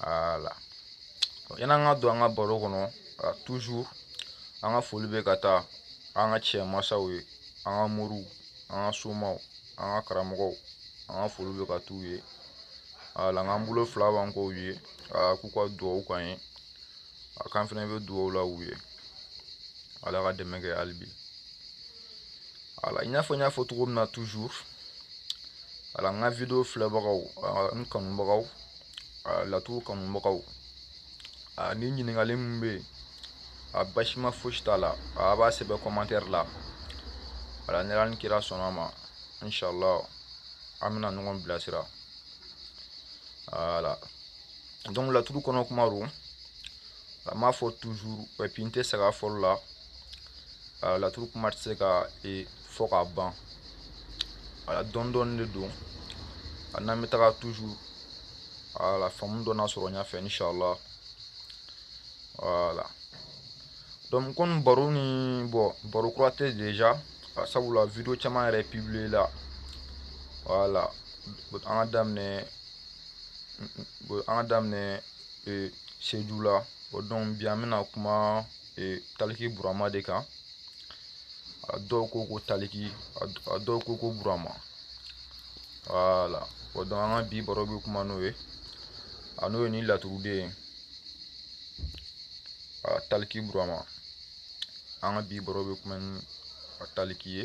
voilà yani an ka don an ka baro kɔnɔ toujours an ka foli bɛ ka taa an ka cɛ masaw ye an ka moriw an ka somaw an ka karamɔgɔw an ka foli bɛ ka t'u ye voilà an k'an bolo fila b'an kɔ ye k'u ka dugawu k'an ye a kan fɛnɛ bɛ dugawu la u ye ala ka dɛmɛ kɛ hali bi voilà i n'a fɔ n y'a fɔ cogo min na toujours voilà an ka video filɛbagaw an kanubagaw laturu kanubagaw ni ɲininkali min bɛ yen a basima fosi t'a la a b'a sɛbɛn commentaire la voilà ni ala ni kira sɔnna a ma inshallah an bɛna ɲɔgɔn bilasira voilà donc laturu kɔnɔ kuma don a n b'a fɔ toujours epi n tɛ sɛgɛn a fɔli la a laturu kuma tɛ se ka e, fɔ ka ban voilà dɔɔni dɔɔni de don a n'an bɛ taga toujours voilà faamu dɔ na sɔrɔ ɲɛfɛ inshallah voilà donc komi baro nin bon baro kura tɛ déjà sabula video caman yɛrɛ publier la voilà an ka daminɛ an ka daminɛ seju la bon donc bi an bɛna kuma taliki burama de kan a dɔw ko ko taliki a dɔw ko ko burama voilà bon donc an ka bi baro bɛ kuma n'o ye a n'o ye ni laturuden ye a taliki burama an ka bi baro bɛ kuma ni a taliki ye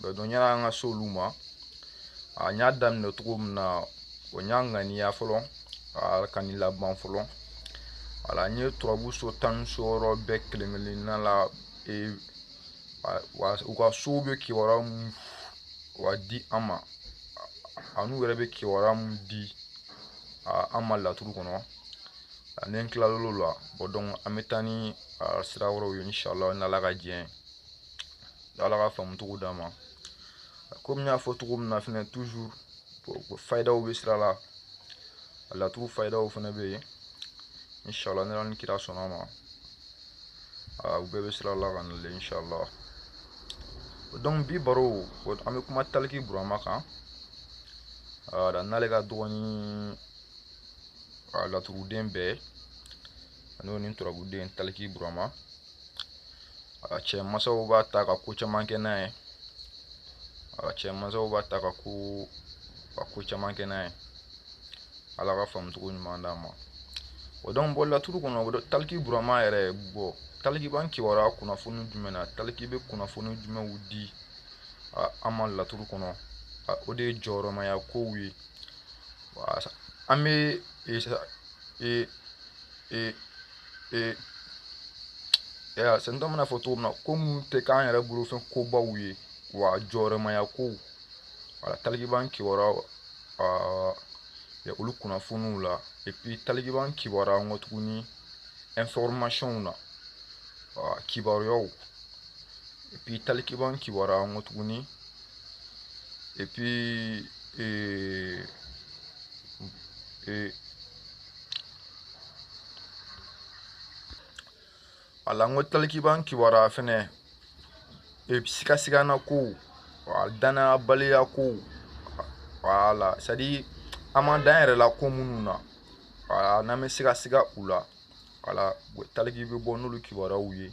bɛɛ dɔn yani an ka se olu ma a n y'a daminɛ cogo min na o n y'a ŋaniya fɔlɔ ka nin laban fɔlɔ voilà n'o ye turabu so tan ni so wɔɔrɔ bɛɛ kelen kelenna la e, wa u ka sow bɛ kibaruya munw di an ma an'u yɛrɛ bɛ kibaruya mun di an ma laturu kɔnɔ ani n tilal'o la bon donc an bɛ taa ni sira wɛrɛw ye inshallah n'ala ka diɲɛ ye ala ka faamucogo d'an ma komi n y'a fɔ cogo min na fɛnɛ toujours fayidaw bɛ sira la a laturu fayidaw fɛnɛ bɛ yen inshallah n'ala ni kira sɔnna a ma u bɛɛ bɛ sira la ka na le inshallah donc bi baro an bɛ kuma taliki burama kan n'ale ka dɔgɔnin a laturuden bɛɛ ani ni turabuden taliki burama a cɛ mansaw b'a ta ka ko caman kɛ n'a ye a cɛ mansaw b'a ta ka ko ka ko caman kɛ n'a ye ala ka faamucogo ɲuman d'an ma bon donc bon laturu kɔnɔ o taliki burama yɛrɛ bon taliki b'an kibaruya kunnafoni jumɛn na taliki bɛ kunnafoni jumɛnw di an ma laturu kɔnɔ o de ye jɔyɔrɔmaya kow ye an bɛ ee ee ee ya sɛnɛ dɔ mana fɔ cogo min na ko minnu tɛ k'an yɛrɛ bolo fɛn kobaw ye wa jɔrɔmaya kow wala taliki b'an kibaruya olu kunnafoniw la et puis taliki b'an kibaruya n ko tuguni informationw na kibaruyaw et puis taliki b'an kibaruya n ko tuguni Et puis, e, e, wala n ko taliki b'an kibaruya fɛnɛ e, sigasigana kow a dannayabaliya kow wala c'est-à-dire an ma da an yɛrɛ la ko minnu na wala n'an bɛ sigasiga u la wala taliki bɛ bɔ n'olu kibaruyaw ye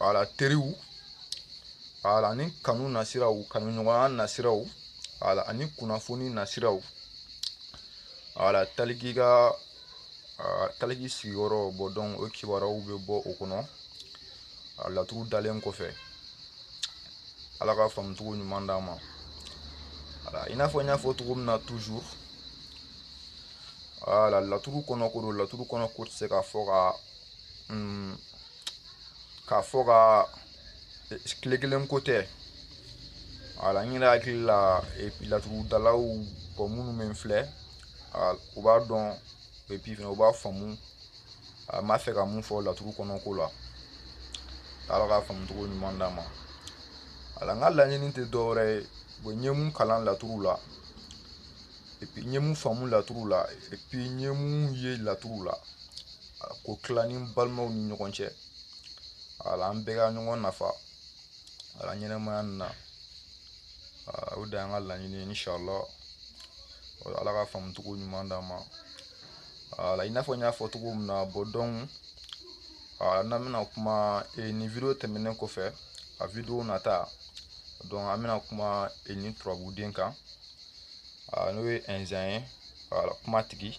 wala teriw wala ani kanu nasiraw kanuɲɔgɔnya nasiraw wala ani kunnafoni nasiraw wala taliki ka taliki sigiyɔrɔ bon donc o kibaruyaw bɛ bɔ o kɔnɔ a laturu dalen kɔfɛ ala ka faamucogo ɲuman d'an ma wala i n'a fɔ n y'a fɔ cogo min na toujours wala laturu kɔnɔ ko don laturu kɔnɔ ko tɛ se ka fɔ ka mm, k'a fɔ ka e, tile kelen ko tɛ wala n yɛrɛ hakili la laturudalaw bon minnu bɛ n filɛ u b'a dɔn et puis fɛnɛ u b'a faamu an b'a fɛ ka mun fɔ laturu kɔnɔ ko la ala ka faamucogo ɲuman d'an ma wala n ka laɲini tɛ dɔwɛrɛ ye bon n ye mun kalan laturu la et puis n ye mun faamu laturu la et puis n ye mun ye laturu la k'o tila ni n balimaw ni ɲɔgɔn cɛ wala an bɛɛ ka ɲɔgɔn nafa wala ɲɛnɛmaya nin na o de y'an ka laɲini ye inshallah ala ka faamucogo ɲuman d'an ma wala i n'a fɔ n y'a fɔ cogo min na bon donc n'an bɛna kuma e, nin video tɛmɛnen kɔfɛ a video nata donc an bɛna kuma e, nin turabuden kan n'o ye ɛnzan ye kumatigi